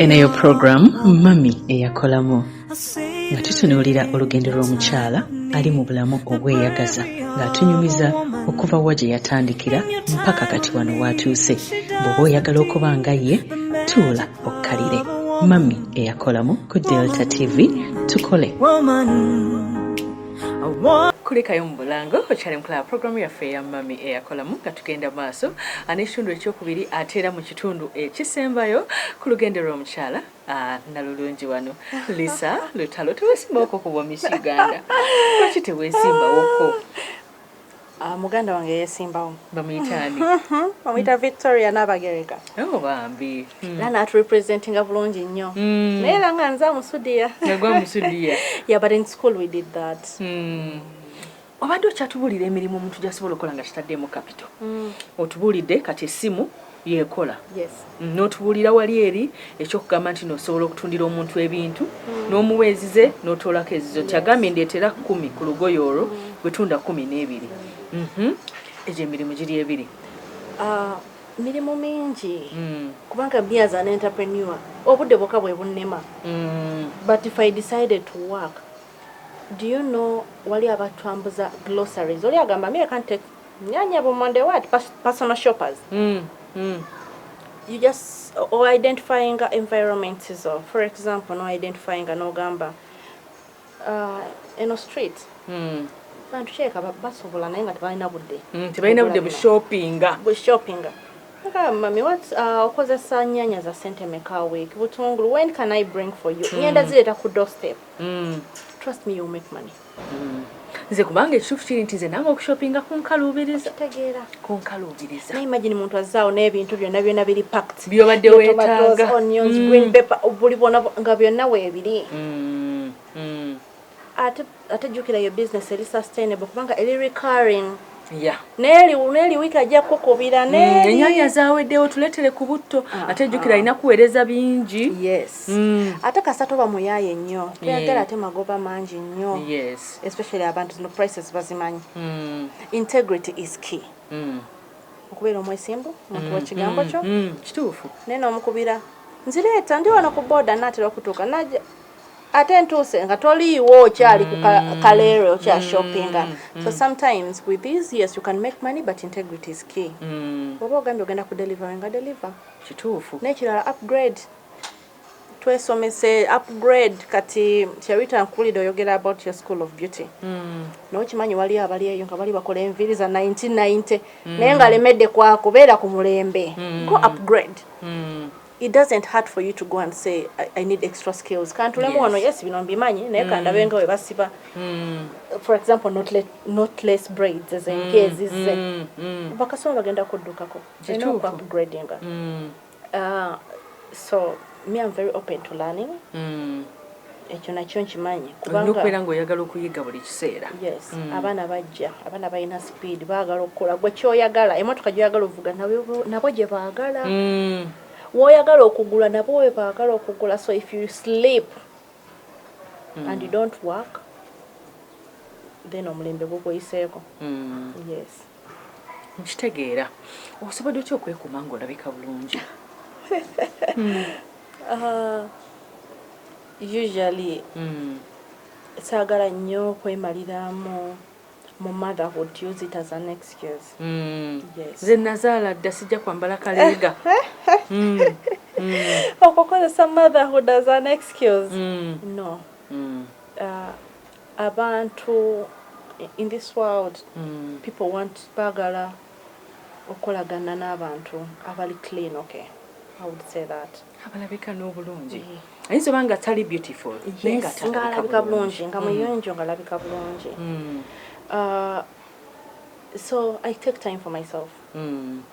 eno yo puroguramu mami eyakolamu nga tutunuulira olugendo lw'omukyala ali mu bulamu obweyagaza ng'atunyumiza okuva wa gye yatandikira mpaka kati wano waatuuse bw'oba oyagala okuba nga ye tuula okkalire mami eyakolamu ku delta tv tukole Woman. kulikayo mu bulango okyali mukulaba puroguramu yaffe eya mami eyakolamu nga tugenda maaso n'ekitundu ekyokubiri ate era mu Kitundu ekisembayo ku lugendo lw'omukyala nalulungi wano lisa lutalo tewesimbaoko kuba omisi uganda lwaki tewesimbawoko ah, muganda wange yesimbawo bamuyitani omuyita victoria nabagereka oh, bambi hmm. era naturepresentinga bulungi nnyo hmm. naye era nga nze amusudiya yabadde in school we did that hmm. obadde okyatubuulira emirimu omuntu gyasobola okukola nga kitaddeemu kapito mm. otubuulidde kati essimu yekola mm, n'otubuulira wali eri ekyokugamba nti nosobola okutundira omuntu ebintu mm. n'omuwa ezize n'otoolako ezizo nti agambye ndeetera kumi ku lugoye olwo gwetunda kumi n'ebiri mhm. egyo emirimu giri ebiri ah, mirimu mingi kubanga beas an entrepreneur obudde bwoka bwe bunnema but if i decided to work Do you know wali abatwambuza glosaries oli agamba me I can't take nyanya boom on the word personal shoppers mm, mm. you just or identifying environment so for example no identifying no gamba uh, in a street mm. bantu sheeka basobola naye nga tebalina budde mm, tebalina budde bushoppinga bushoppinga mami wat uh, okozesa nyanya za sente meka week butungulu when can i bring for you mm. ngenda zireeta ku doorstep Mm. Trust me, you'll make money. Mm. nze kubanga ekituufu kiri nti nze nange okushopinga kunkaluubiriza kunkaluubiriza naye imagine muntu azzaawo n'ebintu byonna byonna biri pact byobadde wetaaga onions mm. green paper buli bwona nga byonna weebiri mm, mm. ate jjukira yo business eri sustainable kubanga eri recurring Yeah. Neli neli wiki ajja kukubira mm, neli. Mm, enyanya zawedewo tuletele ku butto ah, ate jukira ah. ina kuwereza bingi. Yes. Mm. Ate kasato ba muyaye nnyo. Tuyagala yeah. ate magoba mangi nnyo. Yes. Especially abantu zino prices bazimanyi. Mm. Integrity is key. Mm. Okubeera omwesimbu, omuntu mm. wa kigambo mm. kyo. Mm. Kituufu. Neno omukubira. Nzireeta ndi wano ku boda natera okutuuka. Naja. ate ntuuse nga toliiwo okyali ku mm. kaleere okya shoppinga mm. mm. so sometimes with these yes you can make money but integrity is key oba ogambye ogenda ku delivery nga deliver kituufu nekirala upgrade twesomese upgrade kati sherita nkulide oyogera about your school of beauty mm. naye okimanyi waliyo abali eyo nga bali bakola enviiri za 1990 mm. naye nga alemedde kwakubeera ku mulembe mm. go upgrade mm. it doesn't hurt for you to go and say I, I need extra skills kantulemu yes. wano yes bino mbimanyi naye mm. kandabe nga webasiba mm. for example not let, not less braids as mm. kezi ze mm. mm. bakasoma bagenda kuddukako upgrading mm. uh, so me I'm very open to learning mm. ekyo nakyo nkimanyi kubangaokubeera nga oyagala okuyiga buli kiseera yes mm. abaana bajja abaana balina sipiidi baagala okukola gwe kyoyagala emotoka gyoyagala ovuga nabo gye baagala mm. woyagala okugula nabo we baagala okugula so if you sleep mm. and you don't work then omulembe gukweyiseeko mm. yes Nkitegeera. Osobodde otya okwekuuma ng'olabika bulungi? Ah, usually hmm. saagala nnyo okwemaliramu mu motherhood to use it as an excuse mm. yes. nze nazaala dda sijja kwambala kaleega mm. mm. okukozesa motherhood as an excuse mm. no mm. uh, Abantu in this world people want bagala okolagana nabantu abali clean ok i would say that abalabika nobulungi ayinza oba nga tali beautiful ngalabika bulungi nga muyonjo ngalabika bulungi so i take time for myself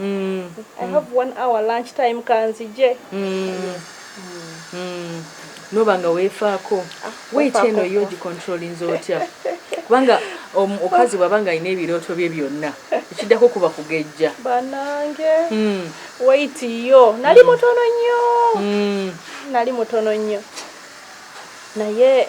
Mm. I mm. have one hour lunch time kanzije. Mm. Mm. Noba nga wefaako. Ah, Weight eno yo gicontrollinze otya? Kubanga omukazi bwaba nga alina ebirooto bye byonna ekiddako kuba kugejja. Banange. Mm. Weight yo nali mm. mutono nnyo. Mm. Nali mutono nnyo. Naye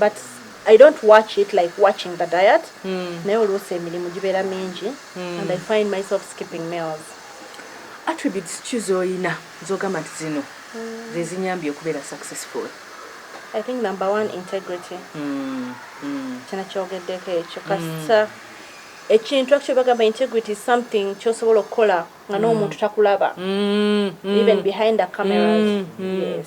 but i don't watch it like watching the diet mm. naye oluusi emirimu gibeera mingi mm. and i find myself skipping meals attributes ki zoyina zogamba nti zino mm. zezinyambye okubeera successful i think number one integrity mm. mm. kino kyogeddeko ekyo mm. kasita mm. ekintu actually bagamba integrity is something kyosobola okukola nga n'omuntu mm. takulaba mm, mm. even behind the cameras yes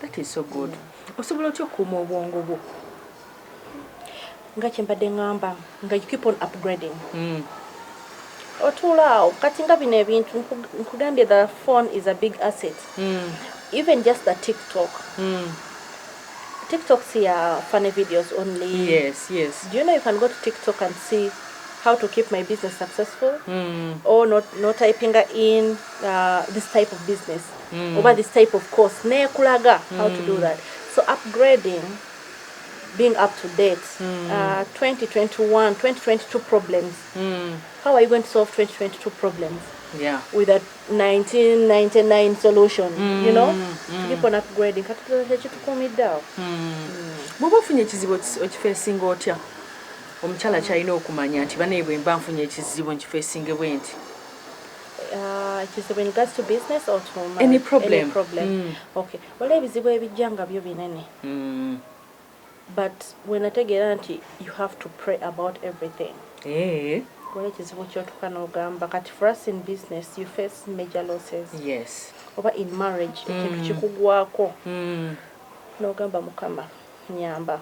That is so good. Osobola otya okukuuma obwongo bwo? Nga kyembadde ngamba nga you keep on upgrading. Mm. Otuula awo kati nga bino ebintu nkugambye the phone is a big asset. Mm. Even just the TikTok. Mm. TikTok see uh, funny videos only. Yes, yes. Do you know you can go to TikTok and see how to keep my business successful mm. or not, not typing in uh, this type of business. mm. oba this type of course nekulaga mm. how to do mm. that so upgrading being up to date mm. uh, 2021 2022 problems mm. how are you going to solve 2022 problems yeah. with a 1999 solution mm. you know mm. keep on upgrading katutulekitukumiddao mm. mm. bwoba ofunye ekizibu okifeesinga otya omukyala kyalina okumanya nti banaye bwemba nfunye ekizibu nkifeesinge bwenti wala ebizibu ebijja nga byo binene mm. but wenategeera nti you have to pray about everything eh. wala ekizibu kyotuka nogamba kati for us in business you face major losses yes oba in marriage mm. ekintu kikugwako mm. nogamba mukama nyamba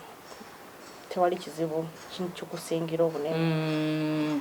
tewali kizibu kikusingira obunene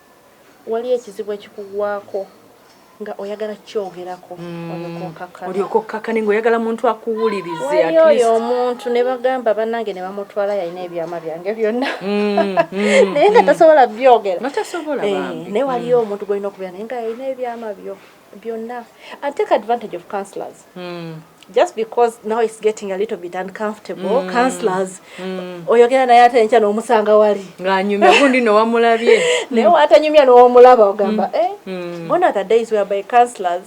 Waliyo ekizibu ekikugwako nga oyagala kukyogerako mm. olyoke okkakkane ngaoyagala muntu akuwulirize oyo omuntu ne bagamba bannange ne bamutwala yalina ebyama byange byonna mm, mm, naye nga tasobola byogera eh, naye waliyo omuntu gwolina okubeera naye nga yalina ebyama byo byonna and take advantage of counselors mm. just because now it's getting a little bit uncomfortable mm. counselors mm. oyogera naye ate enkya n'omusanga wali ng'anyumya gundi nowamulabye naye mm. watanyumya n'omulaba ogamba mm. eh? mm. one of the days where by counselors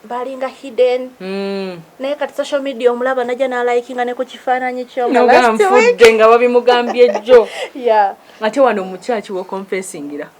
balinga hidden mm. naye kati social media omulaba naja nalikinga ne ku kifaananyi kyoganfudde nga babimugambye jjo yeah. ate wano omukyaki wokonfesingira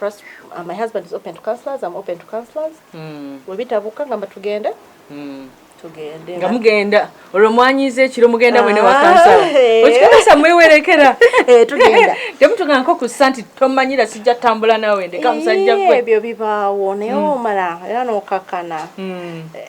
First, uh, my husband is open to counselors, I'm open to counselors. Mm. Webitabuka ngamba tugende. Mm. Tugende. Nga mugenda. Olwo mwanyize ekiro mugenda mwene wa kansala. Ah, Okikakasa mwewerekera. Eh tugenda. Temutunga nko ku santi tomanyira sijja tambula nawe ndeka musajja gwe. Ebyo bibaawo naye omala era n'okakana. Mm. Eh,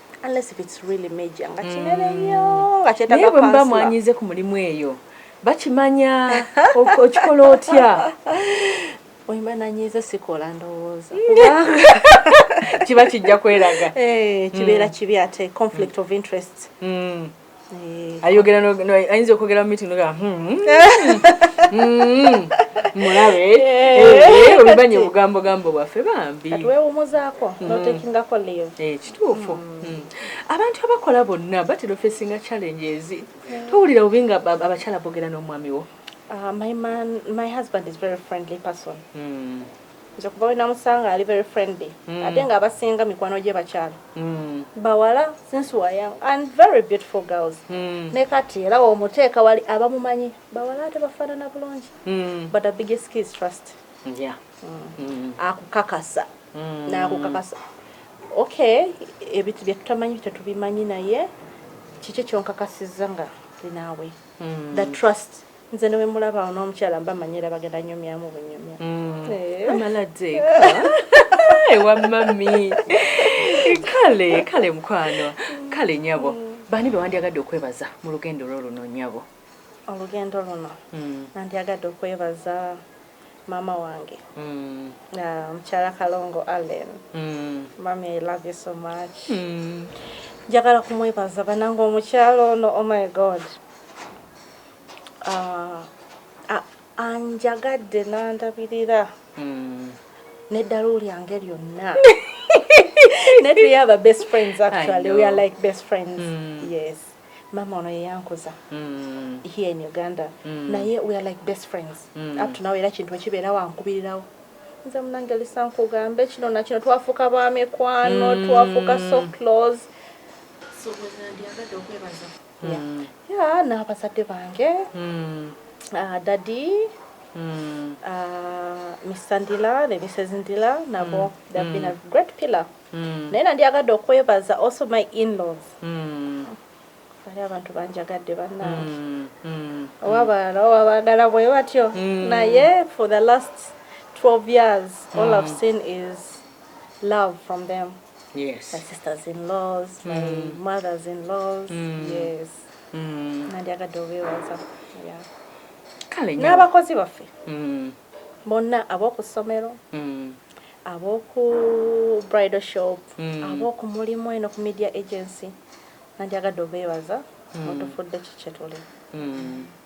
unless if it's really major nga kinene mm. nnyo nga kyetaga naye bwemuba mwanyize ku mulimu eyo bakimanya okikola otya oyimba nanyiiza sikola ndowooza kiba kijja kweraga eh, kibeera mm. kibi ate conflict of interest mm. Eh, ayogera ayinza okwogera mu meeting noga hmm, hmm, hmm, mulabe eh. Eh, obimanyi obugambo gambo bwaffe bambi wewumuzaako notekingako live kituufu abantu abakola bonna batera ofesinga challenges towulira bubi nga abakyala bogera n'omwami wo Uh, my man, my husband is very friendly person. Mm. Nze kuva wenamusanga ali very friendly mm. ate nga abasinga mikwano gye bakyala mm. bawala since we young and very beautiful girls mm. ne kati era womuteeka wali abamumanyi bawala ate bafaanana bulungi mm. but the biggest key is trust yeah. mm. mm. akukakasa mm. nakukakasa okay ebintu byetutamanyi bitetubimanyi naye kiki kyonkakasiza nga linaawe mm. the trust Nze ne wemulaba ono omukyala mba manyi era bagenda nyumyamu bunyumya. Mm. Eh. Amala deka. Ewa mami. Kale, kale mkwano. Kale nyabo. Mm. Bani be wandyagadde okwebaza mu lugendo lwo luno nyabo? Olugendo luno. Mm. Nandyagadde okwebaza mama wange. Mm. Na mkyala Kalongo Allen. Mm. Mami, I love you so much. Mm. Njagala kumwebaza banange omukyala ono, oh my God. Ah, ah, anjagadde nandabirira hmm. neddalu lyange lyonna netuyaaba best friends actually we are like best friends mm. yes mama ono yeyankuza mm. here in uganda mm. naye we are like best friends mm. up to now era kintu ekibeerawo ankubirirawo nze munange lisa nkugambe kino nakino twafuuka ba mikwano mm. twafuuka so close so, mm. yeah, n'abazadde bange mm. uh, dadi mm. uh, mr ndila ne mrs ndila nabo mm. they've mm. been a great pillar mm. naye nandyagadde okwebaza also my inlaws mm. ali abantu banjagadde bannange mm. mm. oba balala oba bagala bwe batyo mm. naye for the last 12 years all mm. i've seen is love from them yes. my sisters in laws my mm. mothers in laws mm. yes mm. nandyagadde obeewaza kale n'abakozi baffe mm. bonna ab'oku ssomero mm. ab'oku bridal shop mm. ab'oku mulimu eno ku media agency nandyagadde obeewaza mm. otufudde kikyetuli mm.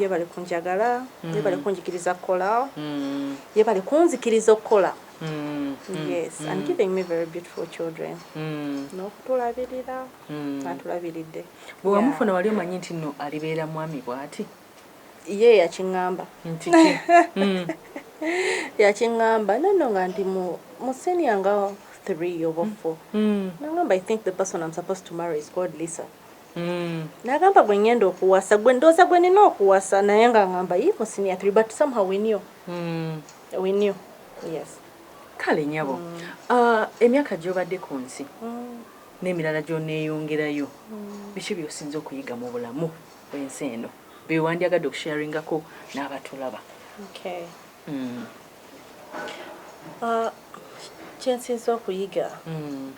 yebale kunjagala mm. yebale kunjikiriza kukolao mm. yebale kunzikiriza okukola mm. yes mm. and giving me very beautiful children mm. nokutulabirira mm. atulabiridde bwewamufuna yeah. wali omanyi nti no alibeera mwami bwati ye yakiŋamba mm. yakiŋamba nono nga ndi musenia nga three oba mm. four mm. nagamba i think the person im supposed to marry is called lisa Mm. Nagamba gwe ngenda okuwasa gwe ndoza gwe nina okuwasa naye nga ngamba yi mu senior 3 but somehow we knew. Mm. We knew. Yes. Kale nyabo. Mm. Uh, emyaka gyobadde ku nsi. Mm. N'emirala gy'oneeyongerayo. Mm. Biki by'osinze okuyiga mu bulamu bw'ensi eno? Bye wandyagadde okusharingako n'abatulaba. Okay. Mm. Uh, kyensinza okuyiga mm.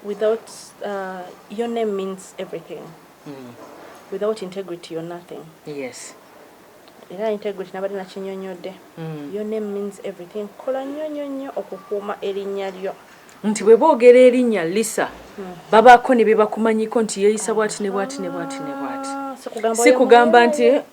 without uh, your name means everything mm. without integrity you're nothing yes era integrity nabadde nakinyonyodde mm. your name means everything kola nnyo nnyo nnyo okukuuma erinnya lyo nti bwe boogera erinnya lisa mm. babaako ne bye bakumanyiko nti yeeyisa bwati ne bwati ne bwati ne bwati ah, si kugamba nti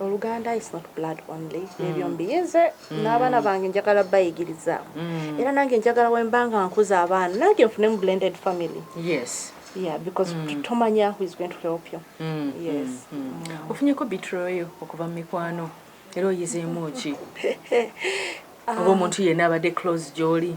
oluganda is not blood only mm. ebyo mbiyize mm. n'abaana bange njagala bayigiriza mm. era nange njagala wemba nga nkuza abaana nange nfunemu blended family yes yeah because mm. tomanya who is going to help you mm. yes mm. mm. mm. ofunyeko bitroyo okuva mu mikwano era oyizeemu ki oba omuntu yenna abadde close gyoli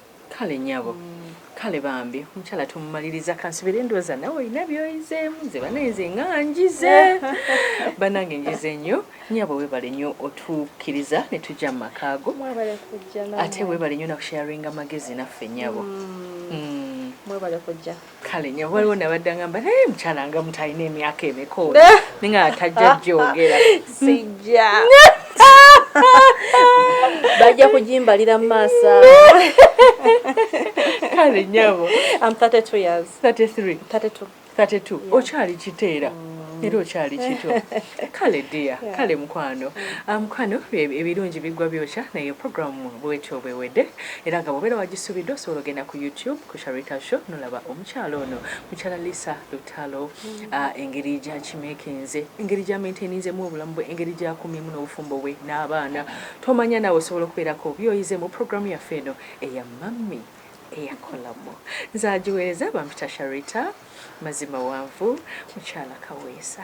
Kale nyabo kale bambi omukyala tumumaliriza kansubire ndooza nawe olina byoyizeemu nze banaye nze nga njize banange njize nnyo nyabo webale nnyo otukkiriza ne tujja mu maka ago ate webale nnyo nakusharinga amagezi naffe nyabo mm. Mm. mwebale kujja kale nyabo waliwo nabadde angamba naye mukyala nga mutalina emyaka emeka oyo eh. ninga atajja jyogera sijja bajja kugimbalira mu maaso kale nyabo am 32 years 33 32 32 okyali kiteera mm. era okyali kito kale dia kale mukwano ah, mukwano ebirungi bigwa byokya naye programu bwetyo bwewedde Era nga bwobeera wagisubidde osobola ogenda ku YouTube ku Sharita Show nolaba omukyala ono mukyala Lisa Lutalo mm-hmm. ah, engeri gyakimekinze engeri gyamaintaininzemu obulamu bwe engeri gyakumyemu n'obufumbo bwe n'abaana tomanya naawe osobola okubeerako byoyize mu programu yaffe eno eya mammi eyakolamu nze agiweereza bampita Sharita mazima wanvu mukyala kaweesa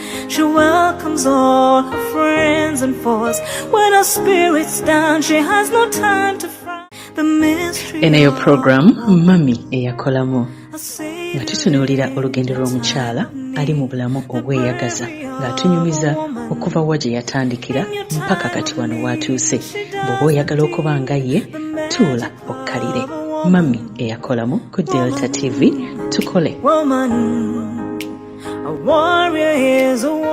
She welcomes all her friends and foes. When her spirit's down, she has no time to fry. The mystery. In your program, Mummy Eyakolamo. nga tutunuulira olugendo lw'omukyala ali mu bulamu obweyagaza ng'atunyumiza okuva wa gye yatandikira mpaka kati wano waatuuse bw'oba oyagala okuba nga ye tuula okkalire mami eyakolamu ku delta tv tukole Woman, a warrior is a woman.